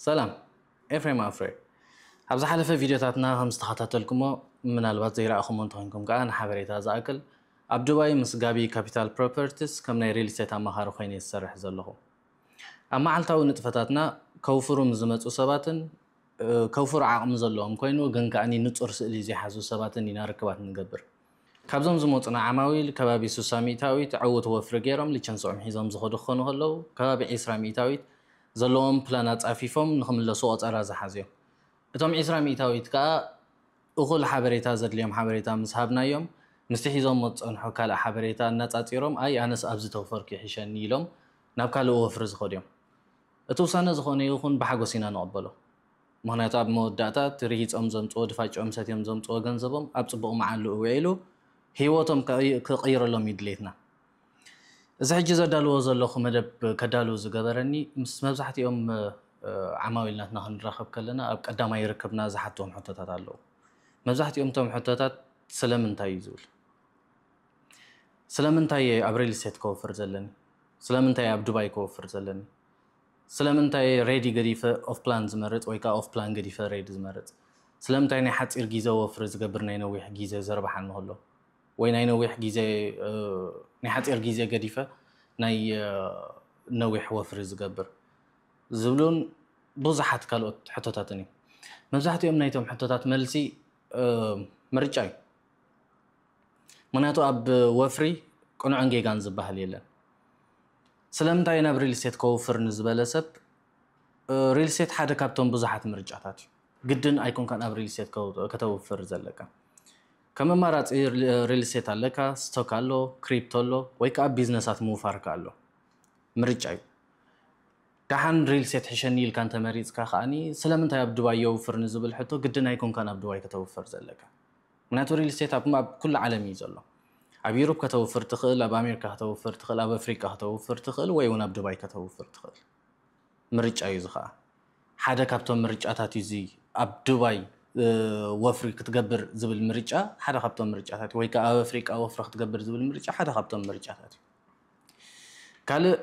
ሰላም ኤፍሬም ኣፍረ ኣብ ዝሓለፈ ቪድዮታትና ከም ዝተኸታተልኩሞ ምናልባት ዘይረኣኹሞ እንተኾይንኩም ከኣ ንሓበሬታ ዝኣክል ኣብ ዱባይ ምስ ጋቢ ካፒታል ፕሮፐርቲስ ከም ናይ ሪል ስቴት ኣማኻሪ ኮይነ እየ ዝሰርሕ ዘለኹ ኣብ መዓልታዊ ንጥፈታትና ከውፍሩ ምስ ዝመጹ ሰባትን ከውፍሩ ዓቕሚ ዘለዎም ኮይኑ ግን ከኣ ንጹር ስእሊ ዘይሓዙ ሰባትን ኢና ርክባት ንገብር ካብዞም ዝመጹና ዓማዊል ከባቢ ስሳ ሚኢታዊት ዕውት ወፍሪ ገይሮም ሊቸንስኦም ሒዞም ዝኸዱ ክኾኑ ከለዉ ከባቢ ዒስራ ሚኢታዊት ዘለዎም ፕላን ኣጻፊፎም ንኽምለሱ ቆጸራ ዝሓዙ'ዮም። እቶም ዒስራ ሚኢታዊት ከኣ እኹል ሓበሬታ ዘድልዮም ሓበሬታ ምስ ሃብናዮም ምስቲ ሒዞሞ ዝጸንሑ ካልእ ሓበሬታ ኣነጻጺሮም ኣይ ኣነስ ኣብዚ ተወፈርኩ ይሕሸኒ ኢሎም ናብ ካልእ ወፍሪ ዝኸዱ'ዮም። እቲ ውሳነ ዝኾነ ይኹን ብሓጎስ ኢና ንቕበሎ። ምኽንያቱ ኣብ መወዳእታ እቲ ርሂጾም ዘምጽዎ ድፋጭኦም ሰትዮም ዘምጽዎ ገንዘቦም ኣብ ጽቡቕ መዓልኡ ውዒሉ ህይወቶም ክቕይረሎም እዩ ድሌትና። እዚ ሕጂ ዘዳልዎ ዘለኹ መደብ ከዳሉ ዝገበረኒ ምስ መብዛሕትኦም ዓማዊል ናትና ክንራኸብ ከለና ኣብ ቀዳማይ ርክብና ዝሓትዎም ሕቶታት ኣለዉ። መብዛሕትኦም እቶም ሕቶታት ስለምንታይ እዩ ዝብል ስለምንታይ እየ ኣብ ሪል ስቴት ከወፍር ዘለኒ ስለምንታይ እየ ኣብ ዱባይ ከወፍር ዘለኒ ስለምንታይ እየ ሬዲ ገዲፈ ኦፍ ፕላን ዝመርጽ ወይ ከኣ ኦፍ ፕላን ገዲፈ ሬዲ ዝመርጽ? ስለምንታይ ናይ ሓጺር ጊዘ ወፍሪ ዝገብር ናይ ነዊሕ ጊዘ ዘርብሓኒ ከሎ ወይ ናይ ነዊሕ ጊዘ ናይ ሓጺር ጊዘ ገዲፈ ናይ ነዊሕ ወፍሪ ዝገብር? ዝብሉን ብዙሓት ካልኦት ሕቶታትን እዮም። መብዛሕትኦም ናይቶም ሕቶታት መልሲ ምርጫ እዩ። ምክንያቱ ኣብ ወፍሪ ቅኑዕን ጌጋን ዝበሃል የለን። ስለምንታይ ናብ ሪልስቴት ከውፍር ንዝበለ ሰብ ሪልስቴት ሓደ ካብቶም ብዙሓት ምርጫታት እዩ። ግድን ኣይኮንካን ኣብ ሪልስቴት ከተውፍር ዘለካ። ከም ኣማራጺ ሪልስቴት ኣለካ፣ ስቶክ ኣሎ፣ ክሪፕቶ ኣሎ ወይ ከኣ ቢዝነሳት ምውፋር ከኣ ኣሎ። ምርጫ እዩ። ደሓን ሪልስቴት ሕሸኒ ኢልካ እንተመሪጽካ ከኣ ስለምንታይ ኣብ ዱባይ የውፍር ንዝብል ሕቶ ግድን ኣይኮንካን ኣብ ዱባይ ከተውፍር ዘለካ። ምክንያቱ ሪል ስቴት ኣብ ኩሉ ዓለም እዩ ዘሎ ኣብ ዩሩፕ ከተውፍር ትኽእል ኣብ ኣሜሪካ ከተውፍር ትኽእል ኣብ ኣፍሪቃ ከተውፍር ትኽእል ወይ እውን ኣብ ዱባይ ከተውፍር ትኽእል ምርጫ እዩ እዚ ከዓ ሓደ ካብቶም ምርጫታት እዩ እዚ ኣብ ዱባይ ወፍሪ ክትገብር ዝብል ምርጫ ሓደ ካብቶም ምርጫታት ወይ ከዓ ኣብ ኣፍሪቃ ወፍሪ ክትገብር ዝብል ምርጫ ሓደ ካብቶም ምርጫታት እዩ ካልእ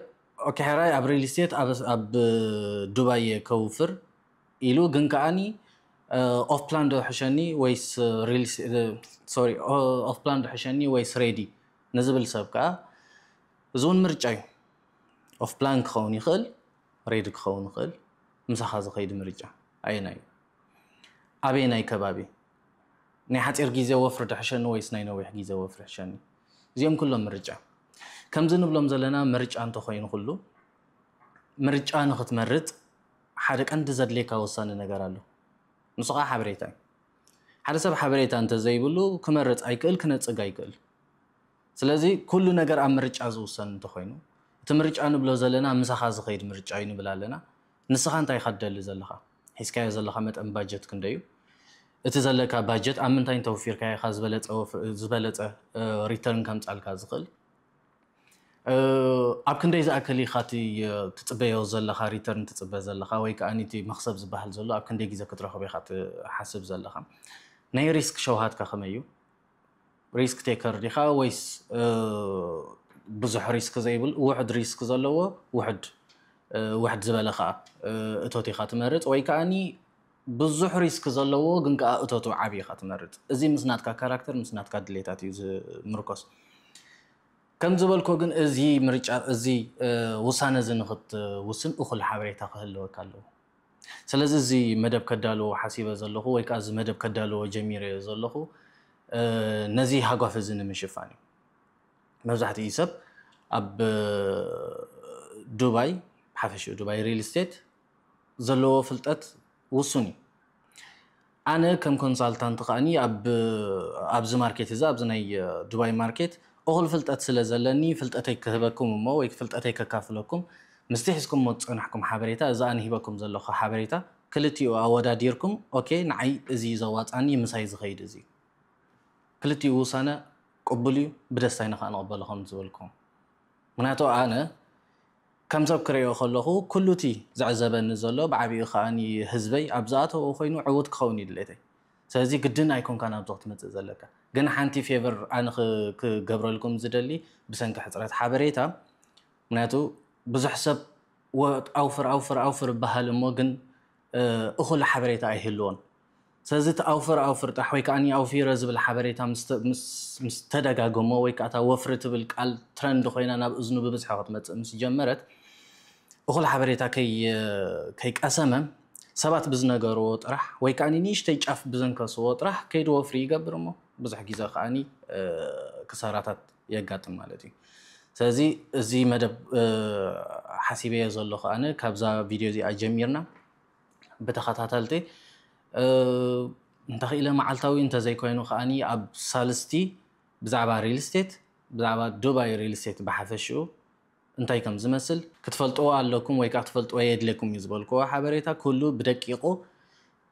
ኦኬ ሕራይ ኣብ ሪል ስቴት ኣብ ዱባይ ከውፍር ኢሉ ግን ከኣኒ ኦፍ ፕላን ዶ ሕሸኒ ወይስ ሶሪ ኦፍ ፕላን ዶ ሕሸኒ ወይስ ሬዲ ንዝብል ሰብ ከኣ እዚ እውን ምርጫ እዩ ኦፍ ፕላን ክኸውን ይኽእል ሬዲ ክኸውን ይኽእል ምሳኻ ዝኸይድ ምርጫ ኣየናይ እዩ ኣበየናይ ከባቢ ናይ ሓፂር ግዜ ወፍሪ ዶ ሕሸኒ ወይስ ናይ ነዊሕ ግዜ ወፍሪ ሕሸኒ እዚኦም ኩሎም ምርጫ ከምዚ ንብሎም ዘለና ምርጫ እንተኾይኑ ኩሉ ምርጫ ንኽትመርፅ ሓደ ቀንዲ ዘድልየካ ወሳኒ ነገር ኣሎ ንሱ ከኣ ሓበሬታ እዩ ሓደ ሰብ ሓበሬታ እንተ ዘይብሉ ክመርጽ ኣይክእል ክነጽግ ኣይክእል ስለዚ ኩሉ ነገር ኣብ ምርጫ ዝውሰን እንተ ኮይኑ እቲ ምርጫ ንብሎ ዘለና ምሳኻ ዝኸይድ ምርጫ እዩ ንብል ኣለና ንስኻ እንታይ ኢኻ ትደሊ ዘለኻ ሒዝካዮ ዘለኻ መጠን ባጀት ክንደይ እዩ እቲ ዘለካ ባጀት ኣብ ምንታይ እንተውፊርካዮ ኢኻ ዝበለጸ ዝበለጸ ሪተርን ከምጻልካ ዝኽእል ኣብ ክንደይ ዝኣክል ኢኻ እቲ ትጽበዮ ዘለኻ ሪተርን ትጽበ ዘለኻ ወይ ከዓ እቲ መኽሰብ ዝበሃል ዘሎ ኣብ ክንደይ ግዜ ክትረኽቦ ኢኻ ትሓስብ ዘለኻ ናይ ሪስክ ሸውሃትካ ከመይ እዩ ሪስክ ቴከር ዲኻ ወይስ ብዙሕ ሪስክ ዘይብል ውሕድ ሪስክ ዘለዎ ውሕድ ውሕድ ዝበለ ከዓ እቶት ኢኻ ትመርፅ ወይ ከዓኒ ብዙሕ ሪስክ ዘለዎ ግን ከኣ እቶቱ ዓቢ ኢኻ ትመርጽ። እዚ ምስ ናትካ ካራክተር ምስ ናትካ ድሌታት እዩ ዝምርኮስ። ከም ዝበልኩ ግን እዚ ምርጫ እዚ ውሳነ እዚ ንኽትውስን እኹል ሓበሬታ ክህልወካ ኣለዎ። ስለዚ እዚ መደብ ከዳልዎ ሓሲበ ዘለኹ ወይ ከኣ እዚ መደብ ከዳልዎ ጀሚረዮ ዘለኹ ነዚ ሃጓፍ እዚ ንምሽፋን እዩ። መብዛሕትኡ ሰብ ኣብ ዱባይ ብሓፈሽኡ ዱባይ ሪል ስቴት ዘለዎ ፍልጠት ውሱን እዩ። ኣነ ከም ኮንሳልታንት ከኣኒ ኣብ ኣብዚ ማርኬት እዚ ኣብዚ ናይ ዱባይ ማርኬት እኹል ፍልጠት ስለ ዘለኒ ፍልጠተይ ክህበኩም እሞ ወይ ፍልጠተይ ከካፍለኩም ምስቲ ሒዝኩሞ ዝጸናሕኩም ሓበሬታ እዚ ኣነ ሂበኩም ዘለኹ ሓበሬታ ክልቲኡ ኣወዳዲርኩም ኦኬ ንዓይ እዚ እዩ ዘዋጽኣኒ ምሳይ ዝኸይድ እዚ እዩ ክልቲኡ ውሳነ ቅቡል እዩ ብደስታ ኢና ከኣ ንቕበሎ ከም ዝበልኩም ምክንያቱ ኣነ ከም ሰብ ክርእዮ ከለኹ ኩሉ'ቲ ዝዕዘበኒ ዘሎ ብዓቢኡ ከኣ ህዝበይ ኣብ ዝኣተዎ ኮይኑ ዕዉት ክኸውን እዩ ድሌተይ። ስለዚ ግድን ኣይኮንካን ኣብዚ ክትመጽእ ዘለካ። ግን ሓንቲ ፌቨር ኣነ ክገብረልኩም ዝደሊ ብሰንኪ ሕጽረት ሓበሬታ ምክንያቱ ብዙሕ ሰብ ኣውፍር ኣውፍር ኣውፍር እብሃል እሞ ግን እኹል ሓበሬታ ኣይህልዎን። ሰለዚ እቲ ኣውፈር ኣውፍርጣሕ ወይ ከኣ ኣውፊረ ዝብል ሓበሬታ ምስ ተደጋገሞ ወይ ከኣ እታ ወፍሪ ትብል ቃል ትረንድ ኮይና ናብ እዝኑ ብብዝሒ ክትመጽእ ምስ ጀመረት እኹል ሓበሬታ ከይቀሰመ ሰባት ብዝነገርዎ ጥራሕ ወይ ከኣ ንእሽተይ ጫፍ ብዘንከስዎ ጥራሕ ከይዱ ወፍሪ ይገብር እሞ ብዙሕ ግዜ ከኣ ክሳራታት የጋጥም ማለት እዩ። ስለዚ እዚ መደብ ሓሲበዮ ዘለኹ ኣነ ካብዛ ቪድዮ እዚኣ ጀሚርና ብተኸታተልቲ እንተኽኢለ መዓልታዊ እንተዘይኮይኑ ከዓኒ ኣብ ሳልስቲ ብዛዕባ ሪል ስቴት ብዛዕባ ዱባይ ሪል ስቴት ብሓፈሽኡ እንታይ ከም ዝመስል ክትፈልጥዎ ኣለኩም ወይ ከዓ ክትፈልጥዎ የድልየኩም እዩ ዝበልክዎ ሓበሬታ ኩሉ ብደቂቑ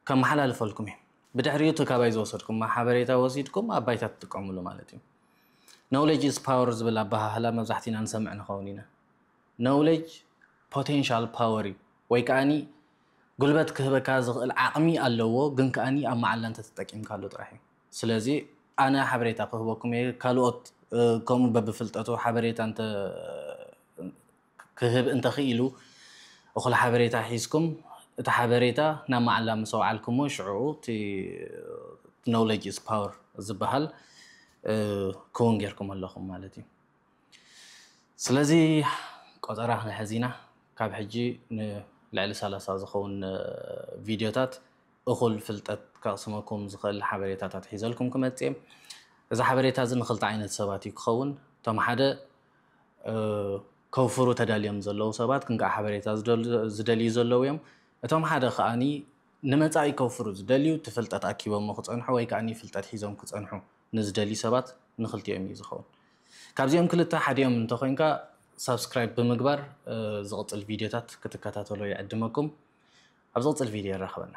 ከመሓላልፈልኩም እዩ። ብድሕሪኡ እቲ ካባይ ዝወሰድኩሞ ሓበሬታ ወሲድኩም ኣብ ባይታ ትጥቀምሉ ማለት እዩ። Knowledge is power ዝብል ኣበሃህላ መብዛሕቲና ንሰምዕ ንኸውን ኢና። Knowledge Potential Power እዩ ወይ ከኣ ጉልበት ክህበካ ዝኽእል ዓቕሚ ኣለዎ ግን ከኣ ኣብ መዓላ እንተተጠቂምካሉ ጥራሕ እዩ ስለዚ ኣነ ሓበሬታ ክህበኩም እየ ካልኦት ከምኡ በብፍልጠቱ ሓበሬታ እንተ ክህብ እንተኽኢሉ እኹል ሓበሬታ ሒዝኩም እቲ ሓበሬታ ናብ መዓላ ምስ ኣውዓልኩሞ ሽዑ እቲ Knowledge is Power ዝበሃል ክውን ጌርኩም ኣለኹም ማለት እዩ። ስለዚ ቆጸራ ክንሕዝ ኢና፣ ካብ ሕጂ ንልዕሊ ሰላሳ ዝኸውን ቪድዮታት እኹል ፍልጠት ከቕስመኩም ዝኽእል ሓበሬታታት ሒዘልኩም ክመጽእ'የ። እዚ ሓበሬታ እዚ ንኽልተ ዓይነት ሰባት እዩ ክኸውን፣ እቶም ሓደ ከውፍሩ ተዳልዮም ዘለዉ ሰባት ክንቃዕ ሓበሬታ ዝደልዩ ዘለዉ እዮም፣ እቶም ሓደ ከኣ ንመጻኢ ከውፍሩ ዝደልዩ እቲ ፍልጠት ኣኪቦሞ ክጸንሑ ወይ ከኣ ፍልጠት ሒዞም ክጸንሑ ንዝደልዩ ሰባት ንክልቲኦም እዩ ዝኸውን። ካብዚኦም ክልተ ሓዲኦም እንተኾይንካ ሳብስክራይብ ብምግባር ዝቕጽል ቪድዮታት ክትከታተሎ ይዕድመኩም። ኣብ ዝቕጽል ቪድዮ የራኽበና።